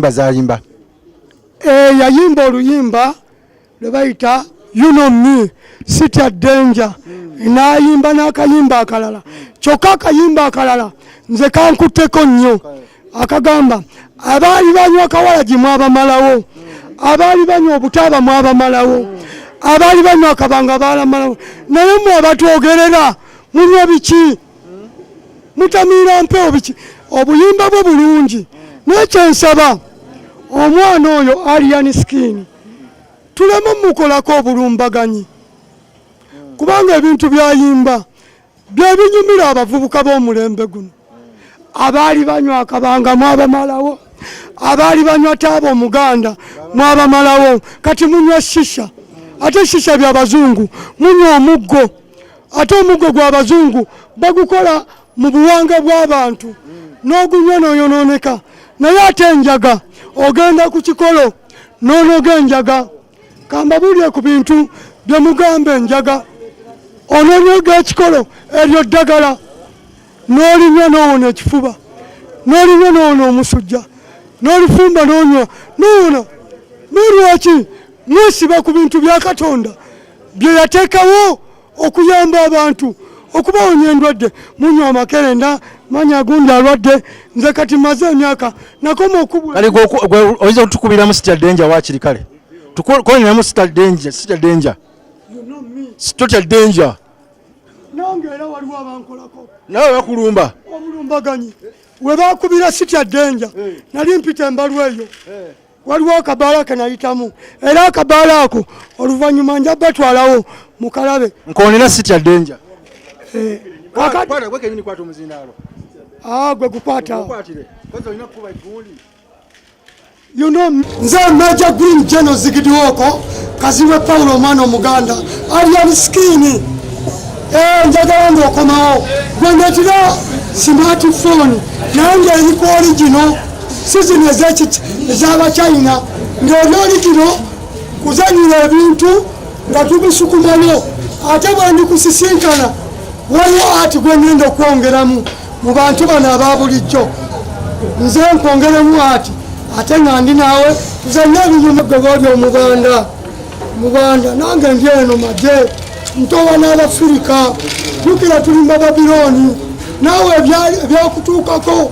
yimba zayimba eh, yayimba oluyimba lwe bayita you know me city at danger mm. nayimba n'akayimba akalala kyokka akayimba akalala nze kankutteko nnyo akagamba abaali banywa kawalagi mwabamalawo mm. abaali banywa obutaaba mwabamalawo mm. abaali banywa akabanga baalamalawo naye mwe abatwogerera munywa biki mutamiira mpewo biki obuyimba bwe bulungi nekyensaba omwana oyo alian skin tuleme mukolako obulumbaganyi kubanga ebintu byayimba byebinyumira abavubuka b'omulembe guno abaali banywa akabanga mwabamalawo abaali banywa taaba omuganda mwabamalawo kati munywa shisha ate shisha byabazungu munywa omuggo ate omuggo gw'abazungu bagukola mu buwanga bw'abantu n'ogunywa n'oyonooneka naye ate enjaga ogenda ku kikolo n'onoga enjaga kambabuulire ku bintu bye mugamba enjaga ononoga ekikolo eryo ddagala n'olinywa n'owona ekifuba n'olinywa n'owona omusujja n'olifumba n'onywa n'owona n'olwaki mwesiba ku bintu bya katonda bye yateekawo okuyamba abantu okubawonya endwadde munywa amakerenda manya agundi alwadde nze kati maze emyaka nakoma okubwaoyinza okutukubiramu sitya denja wakiri kale tukoleramu sitya denja sitya denja sitya denja nange era waliwo abankolako nawe bakulumba obulumbaganyi webakubira sitya denja eh. nali mpita embalu eyo eh. waliwo akabaala kenayitamu era akabaala ako oluvannyuma nja batwalawo mukalabe nkonera sitya denja eh, ah, gwe gukwata You know, nze Major Green General Zigidiwoko Kazibwe Paulo omwana omuganda Alien Skin eh, njagala ng'okomawo gwe netira smartphone naye ng'eriko origino sizini ez'abachina ng'eno oli kino kuzanyira ebintu nga tubisukumanyo ate bwendikusisinkana waliwo ati gwengenda okwongeramu mu bantu bano aba bulijjo nze nkwongeremu ati ate nga ndi naawe tuzanye ebinyuma gwe boli omubanda mubanda nange ndi eno maje ntowa n'abafirika jukira tulimba babiloni naawe ebyakutuukako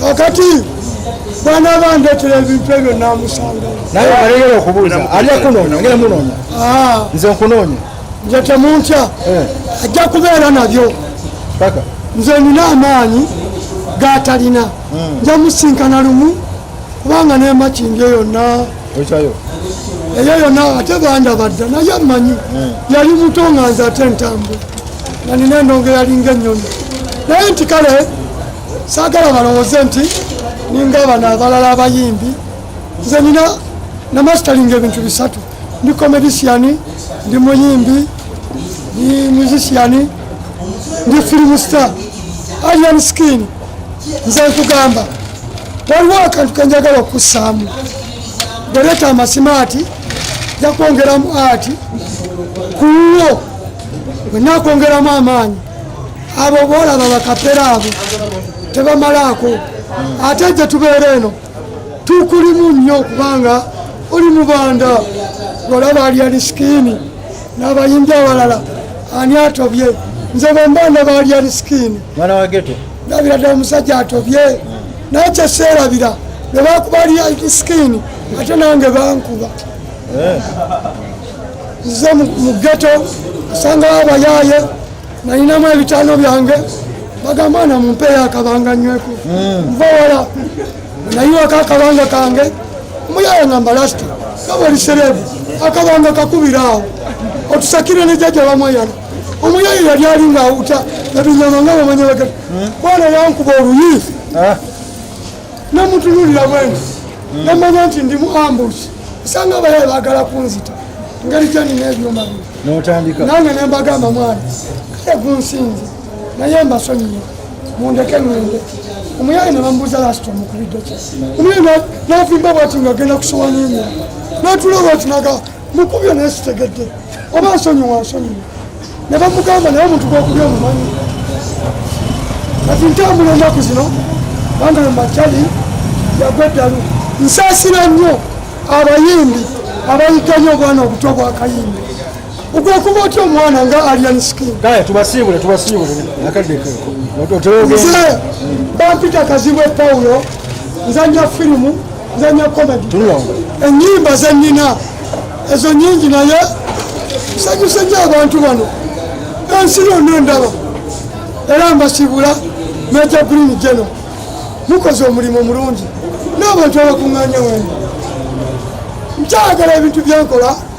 kakati bwana bandetera ebintu ebyo namusanga naye alegera okubuuza ali akunoonya ngera munoonya ah. nze nkunoonya nze temuntya eh. ajja kubeera nabyo paka nze nina amaanyi gatalina hmm. nja musinkana lumu kubanga nemakindi eyo na ekyayo eyo yona ate bandabadda naye amanyi hmm. yali muto nga nze ate ntambula nanina endongo yalinga ennyonyi naye nti kale saagala balowooze nti ninga bano abalala abayimbi nze nina namasteringa ebintu bisatu ndi comedisiani ndi muyimbi ndi musiciani ndi filimu star alian skin nze nkugamba waliwo akantu kenjagala okussaamu bweleeta amasimaati jakwongeramu ati kuwo wenakwongeramu amaanyi abo boolaba bakapera abo tebamalaako ate gye tubeera eno tukulimu nnyo kubanga oli mubanda olaba alya lisikini n'abayimbi awalala ani atobye nze bwembanda baalya lisikini ndabira ddala omusajja atobye naye kyeseerabira bwe bakuba alya lisikini ate nange bankuba eh. nze mu geto asangawo abayaaye nalinamu ebitaano byange bagamba na mumpeeyo akabanga nyweko hmm. nva wala nayiwako akabanga kange omuyaaye ngamba lasita gaba oli sereebu akabanga kakubira awo otusakire ne jajja bamweyana omuyaaye yali ali nga awuta nabinyama nga bamanya bagati hmm. bwana yankuba oluyi ah. namutunulira bwenti hmm. namanya nti ndimu ambusi osanga abayaye bagala kunzita ngeri gyenina ebyuma bino nange nembagamba mwana kale gunsinze naye mbasonyiye mundeke ngende omuyaye nebamubuuza lasita omukubidde ki omuyaye navimba bwati nga agenda kusowanya emya natula bwati naga mukubyo naye sitegedde oba nsonyiwa nsonyiwa ne bamugamba naye omuntu gwokubya omumanyi kati ntambula ennaku zino banga mumakyali yagwa eddalu nsaasira nnyo abayimbi abayiganye obwana obuto bwakayimbi ogwokuba otya omwana nga alian skin tubasiibule tubasiibule akadde nze bampita kazibwe paulo nzanya firimu nzanya komedi enyimba zenina ezo nyingi naye nsanyuse nyo abantu bano ensi yonna endaba era mbasibula meja green geno mukoze omulimu mulungi n'abantu abakuŋŋanya wembi nkyagala ebintu byenkola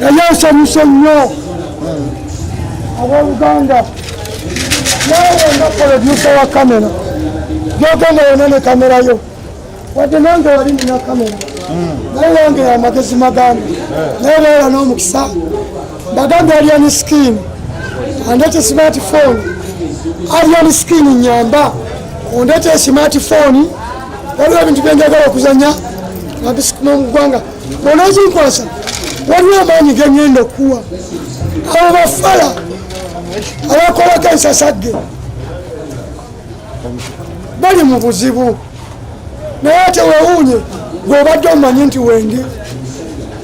naye nsanyuse nnyo abooluganda naawe nga polodyusa wa kamera gyogenda yona ne kamera yo wadde nange wali nina kamera naye wange amagezi magambo naye baala n'omukisa bagambye aliani skin andete smartphone aliani skin nyamba ondete smartphone waliwo ebintu byenjagala okuzanya nga bisikuma mu ggwanga bonazinkwasa waliwo amaanyi genyenda okuwa abo bafala abakolako ensasagge bali mu buzibu naye tewewuunye gweobadde omanyi nti wendi